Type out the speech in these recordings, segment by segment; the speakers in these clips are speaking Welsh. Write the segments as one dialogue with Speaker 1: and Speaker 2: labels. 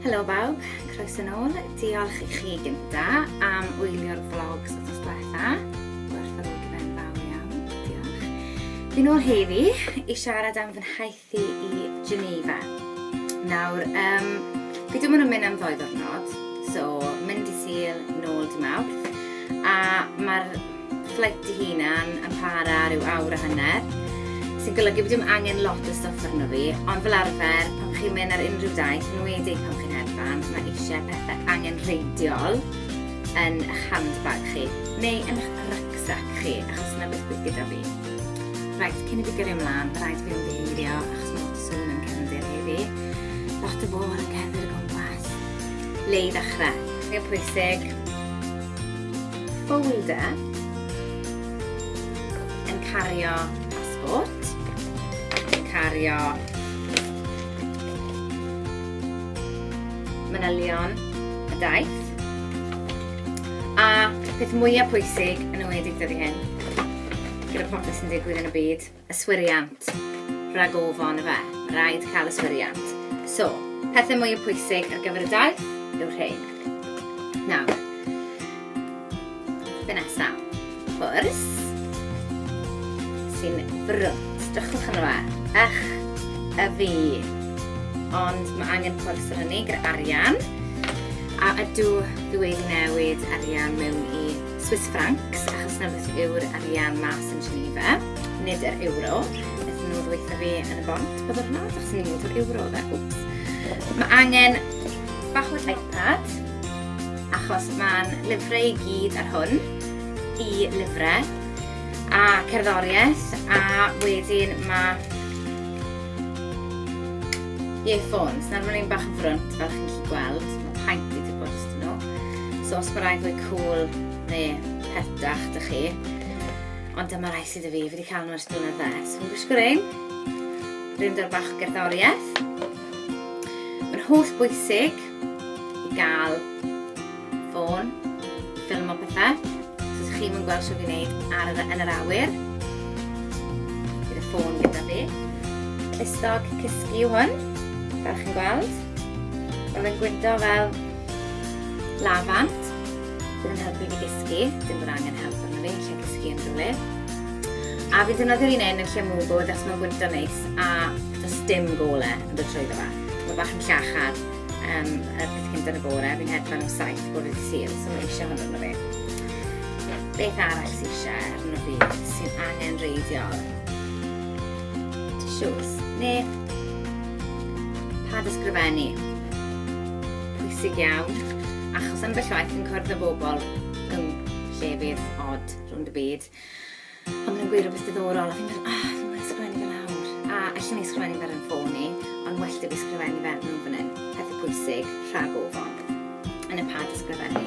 Speaker 1: Helo bawb, croes yn ôl. Diolch i chi gynta am wylio'r vlogs o tos diwetha. Gwerthfawrogi fe'n fawr iawn, diolch. Fi'n ôl heddi i siarad am fy nhaith Thi i Geneva. Nawr, um, fi dim ond yn mynd am ddoi ddwrnod, so mynd i Sil, nôl di Mawrth, a mae'r fflait i hunan yn para rhyw awr a hanner, sy'n golygu bod dim angen lot o stwff arno fi, ond fel arfer, pan chi'n mynd ar unrhyw daith, yn wedi pan chi'n hedfan, mae eisiau pethau angen reidiol yn eich handbag chi, neu yn eich rucksack chi, achos yna beth bydd gyda fi. Reit, cyn i fi gyrru ymlaen, rhaid i fi ymddiheurio achos mae'n swn yn cefndir heddi. Lot o fôl yn cefndir y gwmpas. Le i ddechrau? Neu pwysig. Folder yn cario passport, yn cario manylion y daith, a peth mwyaf pwysig yn ymwedig dyddi hyn, Gyda popeth sy'n digwydd yn y byd, yswiriant, rhag ofon y fe, mae rhaid cael yswiriant. So, pethau mwy o pwysig ar gyfer y daith yw'r rhain. Nawr, fe nesaf, ffwrs, sy'n brwnt, drychwch yn fe, ych y fi. Ond mae angen pwrs ar hynny gyda arian, a ydw dwi wedi newid arian mewn i Swiss francs, achos na beth yw'r arian mas yn Geneva, nid yr euro. Ydyn nhw ddweitha fi yn y bont bod yr nad, achos ni'n mynd o'r euro dda, wps. Mae angen bach o iPad, achos mae'n lyfrau i gyd ar hwn, i lyfrau, a cerddoriaeth, a wedyn mae earphones. Nawr mae'n un bach yn ffrwnt, fel chi'n gallu gweld. paint i ddibod os dyn nhw. So os mae rhaid fwy cool neu pertach dych chi. Ond dyma rai sydd y fi, fi wedi cael nhw ers blynedd dde. So fi'n gwisgo rhain. Rhain dod bach gerddoriaeth. Mae'n holl bwysig i gael ffôn, ffilm o pethau. So ydych chi'n gweld sio fi'n neud ar yr, yn yr awyr. Bydd y ffôn gyda fi. Clustog cysgu yw hwn, fel chi'n gweld. Mae'n gwyndo fel lafant, sydd yn helpu fi gysgu, dim bod angen help arno fi, lle gysgu yn rhywle. A fi'n defnyddio'r un un yn lle mwy bod os mae'n gwyndo neis a does dim gole yn dod trwy dda. Mae bach yn llachar um, y peth cyntaf yn y bore, fi'n hedfan am saith bod wedi syl, so mae eisiau hwnnw arno fi. Beth arall sy'n eisiau arno fi sy'n angen reiddiol? Tissues, neu Pad ysgrifennu. Pwysig iawn, achos ambell waith yn cwrdd â bobl yn llefydd od rhwng y byd. A maen nhw'n gweud rhywbeth diddorol, a fi'n meddwl, ah, fi'n meddwl ysgrifennu fel awr. A allan ni ysgrifennu fel yn ffôn ni, ond well da fi ysgrifennu fel nhw fan hyn. Pethau pwysig, rhag ofon. Yn y pad ysgrifennu.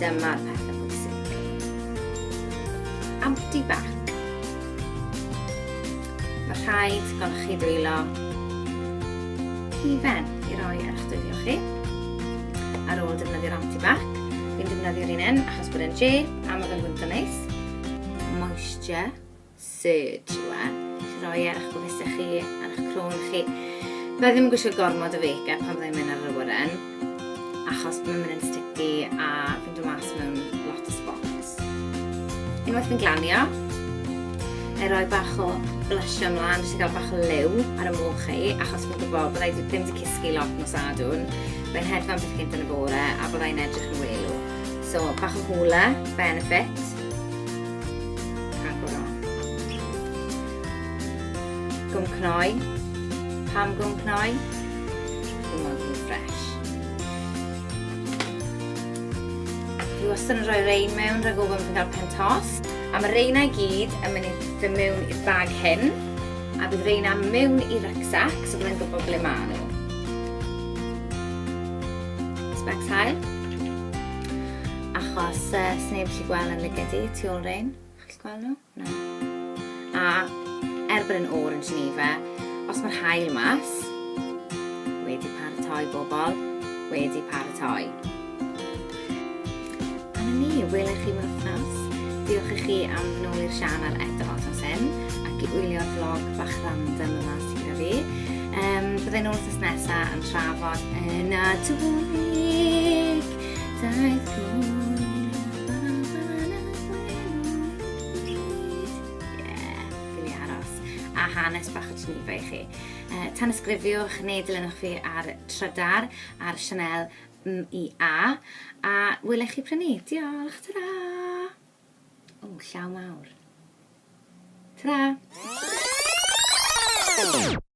Speaker 1: Dyma'r pethau bwysig. Anti-bac. Mae rhaid gan chi ddwylo hufen i roi ar eich dwylo chi. Ar ôl defnyddio'r anti-bac, fi'n defnyddio'r un un achos bod e'n je a mae fe'n fwyta neis. Moisture Serge yw e. Chi roi e ar eich gwefusau chi, ar eich crwn chi. Fe ddim yn gwisgo gormod o feica pan fyddai'n mynd ar yr awyren, achos mae'n mynd yn sticky a fi'n dod mas mewn lot o spots. Unwaith fi'n glanio, e roi bach o blusio ymlaen, jyst i gael bach o liw ar y moch chi, achos fi'n gwybod byddai ddim wedi cysgu lot nos adwn. Mae'n hedfan beth gynt yn y bore a byddai'n edrych yn welu. So, bach o hwle, benefit. Agoro. Gwm cnoi. Pam gwm cnoi? Dwi'n mwyn gwm ffres. Dwi wastad yn rhoi rein mewn rhag ofyn bod yn cael pen tos. A mae reinau gyd yn mynd i fy mewn i'r bag hyn. A bydd reina mewn i rucksack, so byddai'n gwybod ble maen nhw. Specs hael. Achos uh, sneb gallu gweld yn lyged i, tu ôl rein. Chi'n gweld nhw? Na. A er bod yn o'r yn Geneva, os mae'r hael mas, wedi paratoi bobl, wedi paratoi. A na ni, welech chi mewn wythnos. Diolch i chi am nôl i'r sianel eto os oes hyn, ac i wylio'r vlog bach random yma. Ti'n fi. Um, Byddai nhw'n wrth nesaf yn trafod yn y Nadolig. Daeth hanes bach o Geneva i chi. Uh, tan ysgrifiwch neu dilynwch fi ar Trydar ar Chanel MIA a welech chi prynu. Diolch, ta-ra! O, llaw mawr. Tara!